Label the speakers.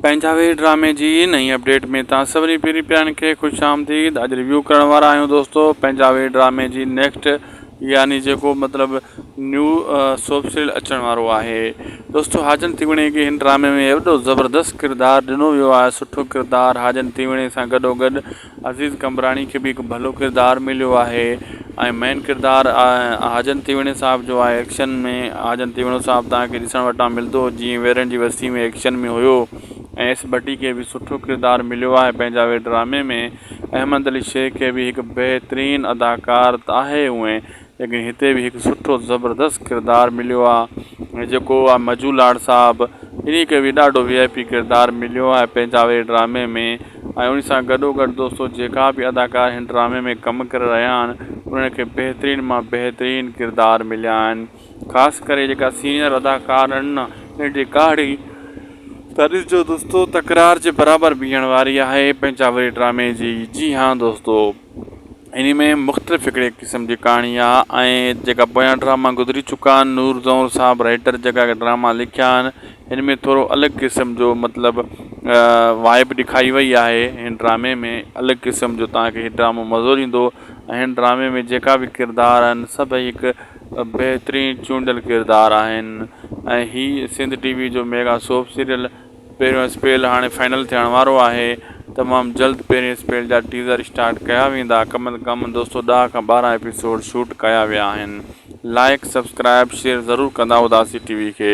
Speaker 1: پنجاهوي ڊرامي جي نئين اپڊيٽ ۾ توهان سڀني پيري پيارن کي خوش آمديد اڄ ريويو ڪرڻ وارا آهيون دوستو پنجاهوي ڊرامي جي نيڪسٽ يعني جيڪو مطلب نيو سوپ سيريل اچڻ وارو آهي دوستو حاجن تيوڻي کي هن ڊرامي ۾ ايڏو زبردست ڪردار ڏنو ويو آهي سٺو ڪردار حاجن تيوڻي سان گڏو گڏ عزيز قمبراڻي کي به هڪ ڀلو ڪردار مليو آهي ۽ مين ڪردار حاجن تيوڻي صاحب جو آهي ايڪشن ۾ حاجن تيوڻو صاحب تهان کي ڏسڻ وٽان ملندو جيئن ويرين جي وستي ۾ ايڪشن ۾ هيو ۽ ايس ڀٽي کي به سٺو ڪردار مليو آهي پنهنجا وي ڊرامي ۾ احمد علي شيخ کي به هڪ بهترين اداڪار آهي اوئين ليڪن هتي به هڪ سٺو زبردست ڪردار مليو آ ۽ جيڪو آ مجو لاڙ صاحب انهي کي به ڏاڍو وي آء پي ڪردار مليو آهي پنهنجا وي ڊرامي ۾ ۽ انهي سان گڏو گڏ دوستو جيڪا به اداڪار هن ڊرامي ۾ ڪم ڪري رهيا آهن انهن کي بهترين مان بهترين ڪردار مليا آهن خاص ڪري جيڪا سينئر اداڪار آهن نه انهن جي ڪهاڙي ته ڏسجو دوستو تڪرار جي برابر بيهڻ واري آهي پنهنجا وي ڊرامي جي جي هان دوستو. انهي ۾ مختلف هڪڙي قسم جي ڪهاڻي آ ۽ جيڪا پويان ڊراما گذري چڪا آهن نور زئور صاحب رائيٽر جيڪا ڊراما لکيا آهن هن ۾ ٿورو الڳ قسم جو مطلب وائب ڏيکاري وئي آهي هن ڊرامي ۾ الڳ قسم جو تهان کي هي ڊرامو مزو ڏيندو ۽ هن ڊرامي ۾ جيڪا به ڪردار آهن سڀئي هڪ بهترين چونڊيل ڪردار آهن ۽ هي سنڌ ٽي وي جو ميگا سوپ سيريل پهريون اسپيل هاڻي فائنل ٿيڻ وارو آهي تمام جلد پهرين اسپيل جا ٽيزر اسٽارٽ ڪيا ويندا ڪم از ڪم دوستو ڏهه کان ٻارهن ايپيسوڊ شوٽ ڪيا ويا آهن لائيڪ سبسڪرائيب شيئر ضرور ڪندا اداسي ٽي وي کي.